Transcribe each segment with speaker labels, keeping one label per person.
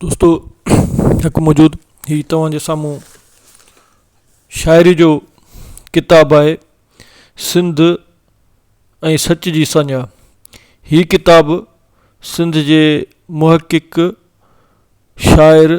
Speaker 1: دوستو ھڪ موجود ھي توھان جي سامھون شاعري جو ڪتاب آھي سنڌ ۽ سچ جي سڃا ھي ڪتاب سنڌ جي محقق شاعر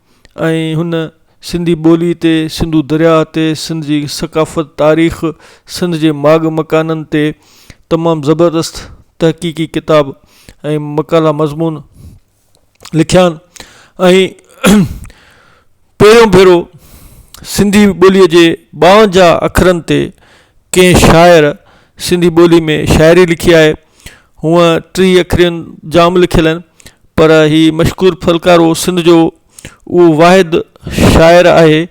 Speaker 1: ۽ هن سنڌي ٻولي تي، سنڌو درياء تي، سنڌ جي ثقافت، تاريخ، سنڌ جي ماڳ مڪانن تي تمام زبردست تحقيقي ڪتاب ۽ مقالا مضمون لکيا آهن ۽ پهريون ڀيرو سنڌي ٻولي جي ٻاونجاهه اکرن تي ڪنهن شاعر سنڌي ٻولي ۾ شاعري لکي آهي هونئن ٽيهه اکرين جام لکيل آهن پر هي مشڪور ڦلڪارو سنڌ جو اهو واحد شاعر آهي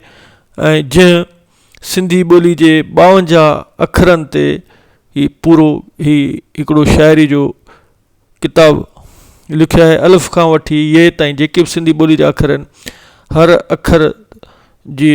Speaker 1: ۽ جنهن سنڌي ٻولي جي ٻاونجاهه اکرن تي هي پورو هي هڪڙو شاعري جو ڪتاب لکيو آهي الف کان وٺي يي تائين جيڪي بھ سنڌي ٻولي جا اکر آهن هر اکر جي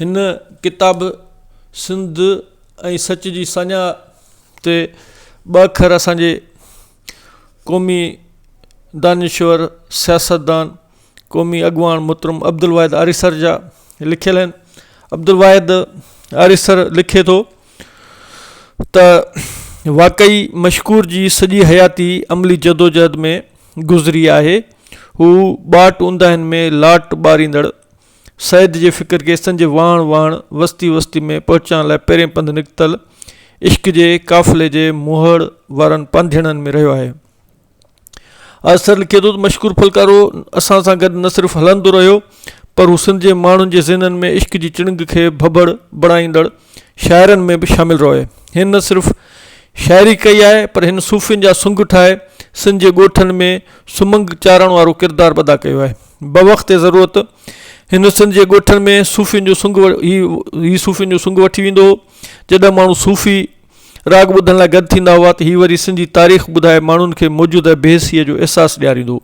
Speaker 1: هن ڪتاب سنڌ ۽ سچ جي سڃا تي ٻه اکر اسان جي قومي دانشور سياستدان قومي اڳواڻ محترم عبدالواحد آريسر جا لکيل آهن عبدالواحد آريسر لکي ٿو ته واقعي مشڪور جي سڄي حياتي عملي جدوجهد ۾ گذري آهي هو ٻاٽ اونداهين ۾ لاٽ ٻاريندڙ سيد جي فڪر ڪيسن جي واڻ واڻ، وستي وستي ۾ پهچان لاء پهرين پنڌ نڪتل عشق جي قافلي جي موهڙ وارن پانڌيئڙن ۾ رهيو آهي. آرثر لکي ٿو ته مشڪور ڦلڪارو اسان سان گڏ نه صرف هلندو رهيو پر هو سنڌ جي ماڻهن جي ذهنن ۾ عشق جي چڻنگ کي ڀڀڙ بڻائيندڙ شاعرن ۾ به شامل رهيو آهي. هن نه صرف شاعري ڪئي آهي پر هن صوفين جا سنگ ٺاهي سنڌ جي ڳوٺن ۾ سمنگ چارڻ وارو ڪردار به ادا ڪيو آهي. بوقت ضرورت هن سنڌ جي ڳوٺن ۾ صوفين جو سنگ هي صوفين جو سنگ وٺي ويندو هو جڏهن ماڻهو صوفي راڳ ٻڌڻ لاء گڏ ٿيندا هئا ته هي وري سنڌي تاريخ ٻڌائي ماڻهن کي موجوده بي حسيء جو احساس ڏياريندو هو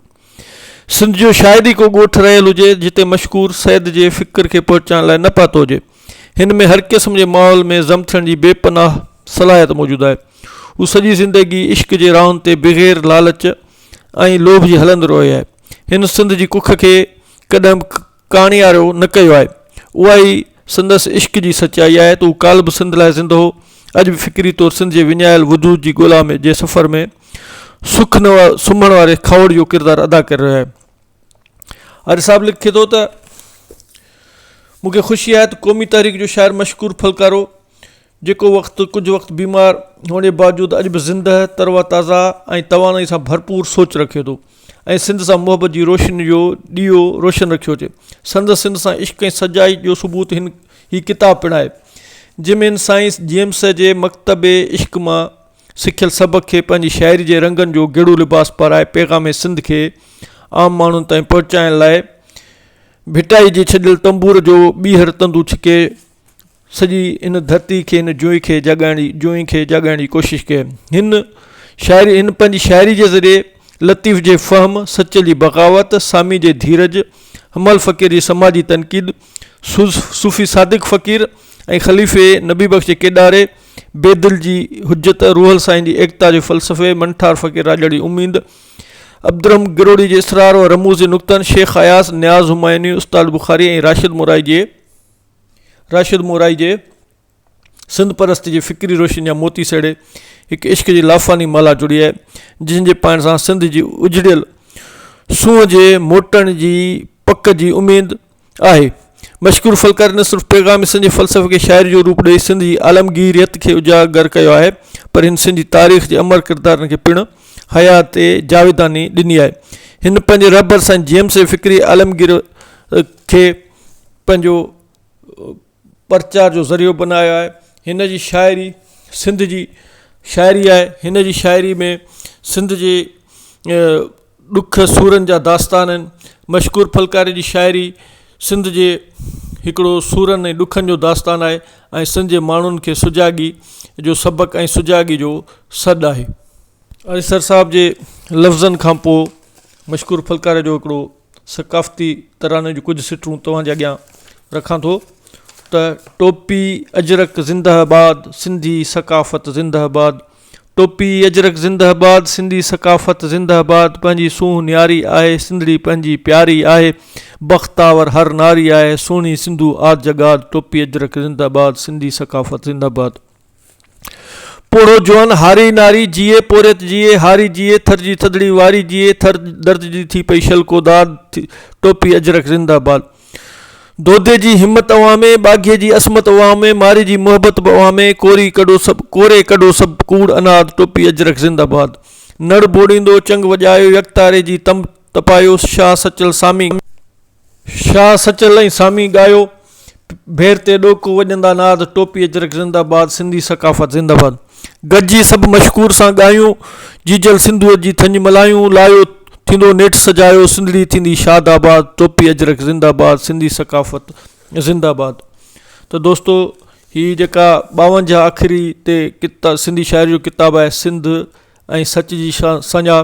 Speaker 1: سنڌ جو شايد ئي ڪو ڳوٺ رهيل هجي جتي مشڪور سيد جي فڪر کي پهچائڻ لاء نه پاتو هجي هن ۾ هر قسم جي ماحول ۾ ضم ٿيڻ جي بي پناهه صلاحيت موجود آهي هو سڄي زندگي عشق جي راهن تي بغير لالچ ۽ لوڀ جي هلندو رهيو آهي هن سنڌ جي ڪک کي ڪڏهن به ڪاڻيارو نه ڪيو آهي اها ئي سندس عشق جي سچائي آهي ته هو ڪالهه به سنڌ لاء زندهه هو اڄ به فڪري طور سنڌ جي وڃايل وجود جي ڳولا ۾ جي سفر ۾ سک نه سمهڻ واري کاهوڙ جو ڪردار ادا ڪري رهيو آهي آري صاحب لکي ٿو ته مون کي خوشي آهي ته قومي تحريڪ جو شاعر مشڪور ڦلڪارو جيڪو وقت ڪجهه وقت بيمار هئڻ جي باوجود اڄ به زندهه، تر و تازه ۽ توانائي سان ڀرپور سوچ رکي ٿو ۽ سنڌ سان محبت جي روشني جو ڏيئو روشن رکيو ٿي. سندس سنڌ سان عشق ۽ سچائي جو ثبوت هن هي ڪتاب پڻ آهي. جمين سائنس جيمس جي مڪتب عشق مان سکيل سبق کي پنهنجي شاعري جي رنگن جو گيڙو لباس پارائي پيغام سنڌ کي عام ماڻهن تائين پهچائڻ لاء ڀٽائي جي ڇڏيل تنبور جو ٻيهر تندو ڇڪي سڄي هن ڌرتي کي هن جوئي کي جاڳائڻ جي جوئي کي جاڳائڻ جي ڪوشش ڪئي هن شاعري هن پنهنجي شاعري جي ذريعي لطيف جي فهم سچل جي بغاوت سامي جي ڌيرج حمال فقير جي سماجي تنقيد سوز صوفي صادق فقير ۽ خليفي نبي بخش جي ڪيڏاري بيدل جي حجت روحل سائين جي ايڪتا جي فلسفي منٺار فقير راڄڙ جي اميد عبدالرحم گروڙي جي اسرار و رموز جي نقطن شيخ اياز نياز همايوني استاد بخاري ۽ راشد مورائي جي راشد مورائي جي سنڌ پرست جي فڪري روشني جا موتي سهيڙي هڪ عشق جي لافاني مالها جڙي آهي جنهن جي پائڻ سان سنڌ جي اجڙيل سونهن جي موٽڻ جي پڪ جي اميد آهي مشڪور فلڪاري نه صرف پيغام سنڌ جي فلسفي کي شاعري جو روپ ڏئي سنڌ جي عالمگيريت کي اجاگر ڪيو آهي پر هن سنڌ جي تاريخ جي امر ڪردارن کي پڻ حيات جاويداني ڏني آهي هن پنهنجي رهبر سائين جيمس جي فڪري عالمگير کي پنهنجو پرچار جو ذريعو بنايو آهي هن جي شاعري سنڌ جي شاعري آهي هن جي شاعري ۾ سنڌ جي ڏک سورن جا داستان آهن مشڪور ڦلڪاري جي شاعري سنڌ جي هڪڙو سورن ۽ ڏکن جو داستان آهي ۽ سنڌ جي ماڻهن کي سجاڳي جو سبق ۽ سجاڳي جو سڏ آهي اريسر صاحب جي لفظن کان پوء مشڪور ڦلڪاري جو هڪڙو ثقافتي تراني جون ڪجهه سٽون توهان جي اڳيان رکان ٿو ته ٽوپي اجرڪ زنده آباد سنڌي ثقافت زنده آباد ٽوپي اجرڪ زنده آباد سنڌي ثقافت زنده آباد پنهنجي سونهن نياري آهي سنڌڙي پنهنجي پياري آهي بختاور هر ناري آهي سهڻي سنڌو آد جڳاد ٽوپي اجرڪ زنده آباد سنڌي ثقافت زنده آباد پوڙهو جوان، هاري ناري، جيئي پورهيت جيئي، هاري جيئي، ٿر جي ٿڌڙي واري جيئي، ٿر درد جي ٿي پئي شل ڪوداد، ٽوپي اجرڪ زنده باد. دودي جي همت اوهان ۾، ٻاگهي جي عصمت اوهان ۾، ماري جي محبت به اوهان ۾، ڪوري ڪڍو سڀ، ڪوري ڪڍو سڀ ڪوڙ اناد، ٽوپي اجرڪ زنده باد. نڙ ڀوڙيندو چنگ وڄايو، يڪتاري جي تنب تپايو، شاهه سچل سامي. شاهه سچل ۽ سامي ڳايو ڀير تي ڏوڪو وڄندا ناد ٽوپي اجرڪ زنده باد سنڌي ثقافت زنده باد گڏجي سڀ مشڪور سان ڳايون جيجل سنڌوء جي ٿڃ ملايون لايو ٿيندو نيٺ سجايو سنڌڙي ٿيندي شاد آباد ٽوپي اجرڪ زنده باد سنڌي ثقافت زنده باد ته دوستو هي جيڪا ٻاونجاهه اکري تي ڪتا سنڌي شاعري جو ڪتاب آهي سنڌ ۽ سچ جي شا سڃا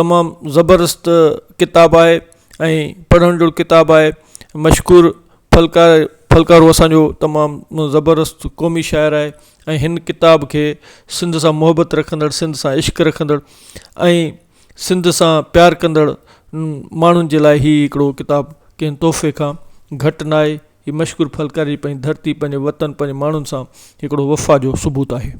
Speaker 1: تمام زبردست ڪتاب آهي ۽ پڙهڻ جهڙو ڪتاب آهي مشڪور ڦلڪا ڦلڪارو اسانجو تمام زبردست قومي شاعر آهي ۽ هن ڪتاب کي سنڌ سان محبت رکندڙ سنڌ سان عشق رکندڙ ۽ سنڌ سان پيار ڪندڙ ماڻهن جي لاء هي هڪڙو ڪتاب ڪنهن تحفي کان گهٽ نه آهي هي مشڪور ڦلڪاري پنهنجي ڌرتي پنهنجي وطن پنهنجي ماڻهن سان هڪڙو وفا جو ثبوت آهي